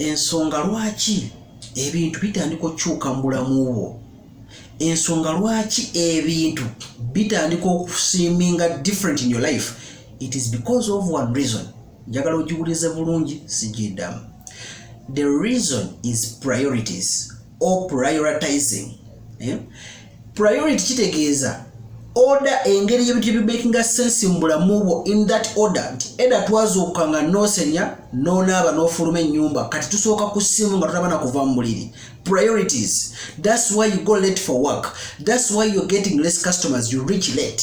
ensonga lwaki ebintu bitandika okukyuka mu bulamu bwo ensonga lwaki ebintu bitandika okusiiminga different in your life it is because of one reason njagala ogiwulize bulungi sigidamu the reason is priorities or prioritizing eh? priority kitegeeza order engeri ebintu ebimakinga sense mu bulamu bwo in that order nti eda twazuukuka nga nosenya nonaaba nofuluma ennyumba kati tusooka ku ssimu nga tutabana kuva mu buliri priorities thats why you go late for work thats why you're getting less customers you reach late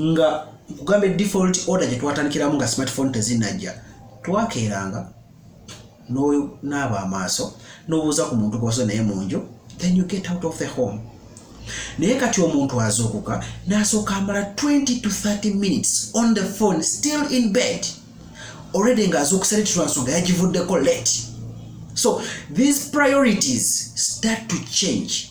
nga nkugambye default order gye twatandikiramu nga smartphone tezinajja twakeeranga n'onaaba amaaso n'obuuza ku muntu gwoso naye mu nju then you get out of the home naye kati omuntu azuukuka n'asooka amala 20 to 30 minutes on the phone still in bed already nga azuukusa leti lwa nsonga yagivuddeko late so these priorities start to change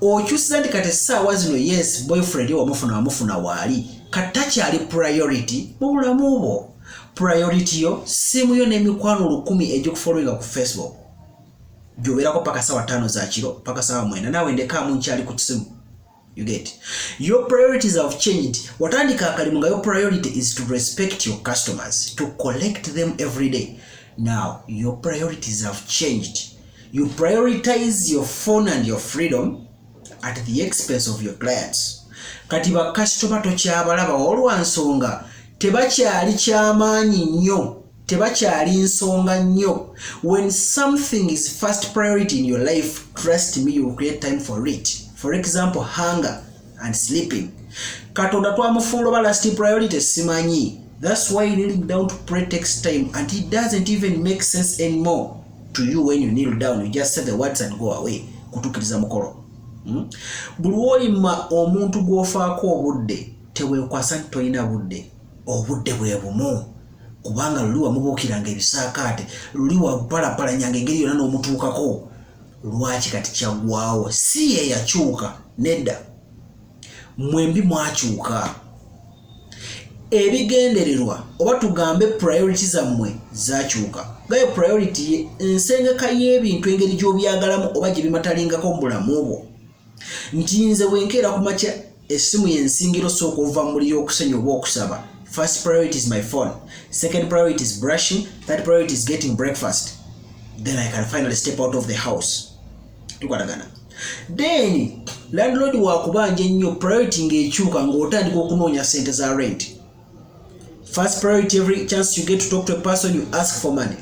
okyusiza nti kati essaawa zino yes boyfriend wamufuna wamufuna waali kati takyali priority mu bulamu bwo priority yo siimu yo n'emikwano lukumi egikufolowinga ku facebook gyobeerako paka sawa tano zakiro paka sawa mwenda naawe ndekaamu nkyali ku kisimu you get your priorities have changed watandika akalimu nga your priority is to respect your customers to collect them every day now your priorities have changed You prioritize your phone and your freedom at the expense of your clients. Kati ba customer to kyabala ba olwa nsonga tebakyali kyamaanyi nnyo tebakyali nsonga nnyo when something is first priority in your life trust me you will create time for it for example hunger and sleeping katonda twamufuula oba last priority simanyi that's why kneeling down to pray takes time and it doesn't even make sense anymore to you when you kneel down you just say the words and go away kutukiriza mukolo hmm? buli woyima omuntu gwofaako obudde tewekwasa nti tolina budde obudde bwe bumu kubanga luli wamubuukiranga ebisaakaate luli wapalapalanyanga engeri yona n'omutuukako lwaki kati kyagwawo si yeyakyuka nedda mwembi mwakyuka ebigendererwa oba tugambe priority zammwe zakyuka gayo priority ye ensengeka y'ebintu engeri gy'obyagalamu oba gye bimatalingako mu bulamu bwo nti nze wenkeera ku makya essimu yensingiro sooka ova mu muli y'okusenya oba okusaba first priority is my phone second priority is brushing third priority is getting breakfast then i can finally step out of the house tukwatagana then landlord wakubanja ennyo priority ng'ekyuka ng'otandika okunoonya sente za rent first priority every chance you get to talk to a person you ask for money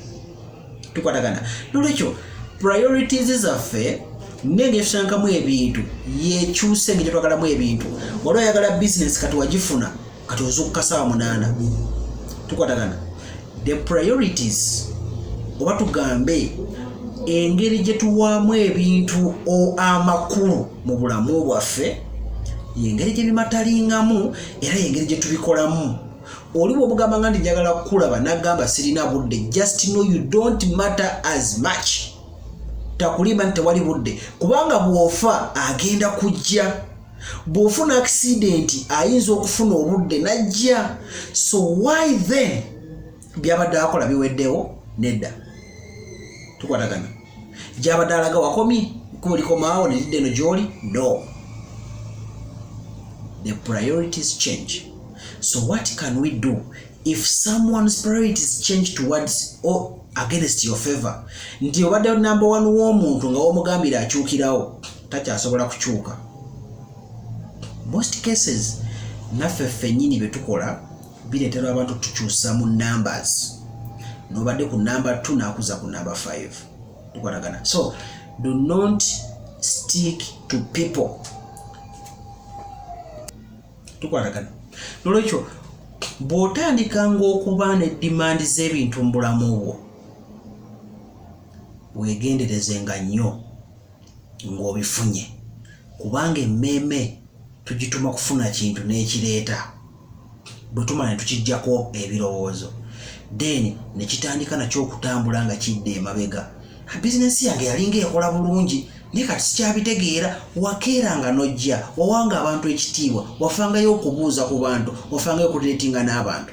tukwatagana nolwekyo priorities zaffe nenge tusankamu ebintu yekyuse nge tetwagalamu ebintu waliwo ayagala business kati wagifuna kati ozukuka saawa munaana tukwatagana the priorities oba tugambe engeri gye tuwaamu ebintu amakulu mu bulamu bwaffe yengeri gye bimatalingamu era yengeri gye tubikolamu oli bwobugamba nga ndi njagala kukulaba nagamba sirina budde just know you don't matter as much takulimba nti tewali budde kubanga bwofa agenda kujja bw'ofuna akisidenti ayinza okufuna obudde n'ajja so why then byabadde akola biweddewo nedda tukwatagana gyabadde alaga wakomye ekkubo likomaawo ne lidda eno gy'oli no the priorities change so what can we do if someone's priorities change towards or against your favor nti obadde number one w'omuntu nga womugambira akyukirawo takyasobola kukyuka most cases naffe ffennyini bye tukola bireetera abantu tukyusa mu numbers nobadde ku number 2 nakuza ku number 5 tukwatagana so do not stick to people tukwatagana nolwekyo bw'otandika ng'okuba ne dimandi z'ebintu mu bulamu bwo weegenderezenga nnyo ng'obifunye kubanga emmeeme tugituma kufuna kintu n'ekireeta bwe tumala ne tukijjako ebirowoozo then ne kitandika nakyo okutambula nga kidda emabega bizinensi yange yalinga ekola bulungi naye kati sikyabitegeera wakeera nga nojja wawanga abantu ekitiibwa wafangayo okubuuza ku bantu wafangayo okudiretinga n'abantu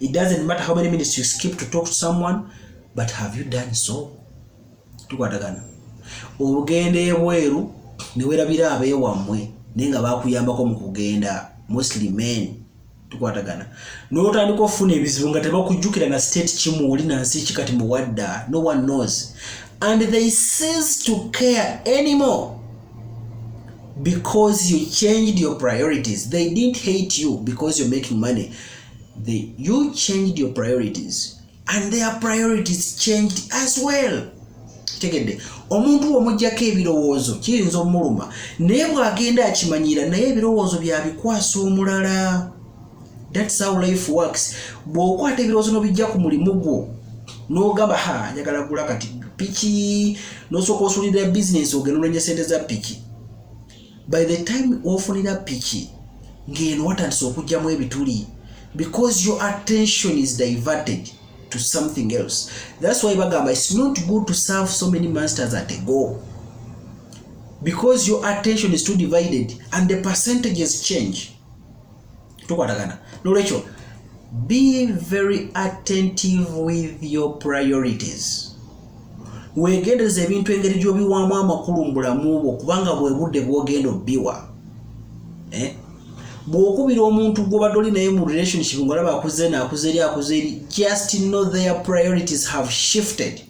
It doesn't matter how many minutes you skip to talk to someone, but have you done so? Tukwatagana. Ogenda ebweru ne werabira abeewammwe naye nga bakuyambako mu kugenda mostly men tukwatagana n'otandika okufuna ebizibu nga tebakujjukira na state kimu oli na nsi kikati muwadda no one knows and they cease to care anymore because you changed your priorities they didn't hate you because you're making money they, you changed your priorities and their priorities changed as well tegedde omuntu womujjako ebirowoozo kiyinza omuluma naye bwagenda akimanyira naye ebirowoozo byabikwasa omulala That's how life works. Bw'okwata ebirowoozo n'obijja ku mulimu gwo n'ogamba ha njagala gula kati piki n'osooka osulira bizinensi ogenda ononya sente za piki by the time ofunira piki ng'eno watandise okugyamu ebituli because your attention is diverted to something else that's why bagamba it's not good to serve so many masters at a go because your attention is too divided and the percentages change tukwatagana nolwekyo be very attentive with your priorities wegendereza ebintu engeri gyobiwamu amakulu mu bulamu bwo kubanga bwebudde bwogenda obiwa eh? bwokubira omuntu gwobadde oli naye mu relationship ngolaba akuze nakuza eri akuza eri just know their priorities have shifted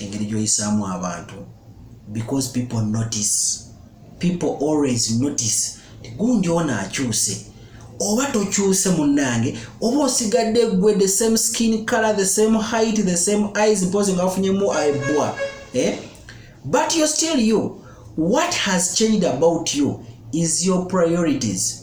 engeri gyoyisaamu abantu because people notice people always notice gundi ono akyuse oba tokyuse munnange oba osigadde gwe the same skin color the same height the same eyes mpozi nga wafunyemu ebwa eh? but you're still you what has changed about you is your priorities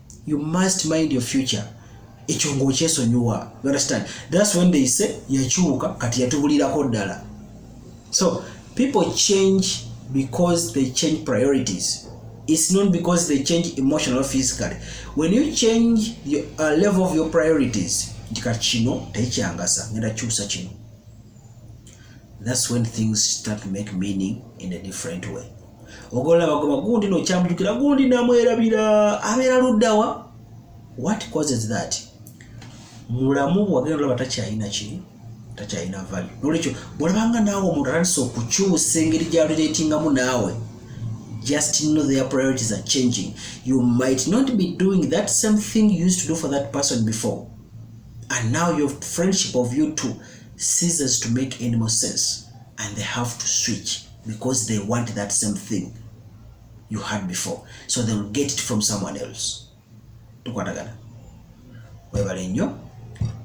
you must mind your future ekyo ngaokyesonyiwa you understand that's when they say yakyuka kati yatubulirako ddala so people change because they change priorities it's not because they change emotional physically when you change your, uh, level of your priorities nti kati kino tekyangasa ngenda kyusa kino that's when things start to make meaning in a different way ogolola bagoba gundi nokyamujukira gundi namwerabira abeera luddawa what causes that mulamu bwagenda olaba takyalina ki takyalina vali nolwekyo bwolabanga naawe omuntu atandisa okukyusa engeri gyaluletingamu naawe just know their priorities are changing you might not be doing that same thing you used to do for that person before and now your friendship of you two ceases to make any more sense and they have to switch because they want that same thing you had before so they will get it from someone else tukwatagana webale nnyo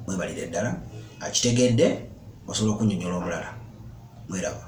mwebalire ddala akitegedde osobola okunyonyola omulala mweraba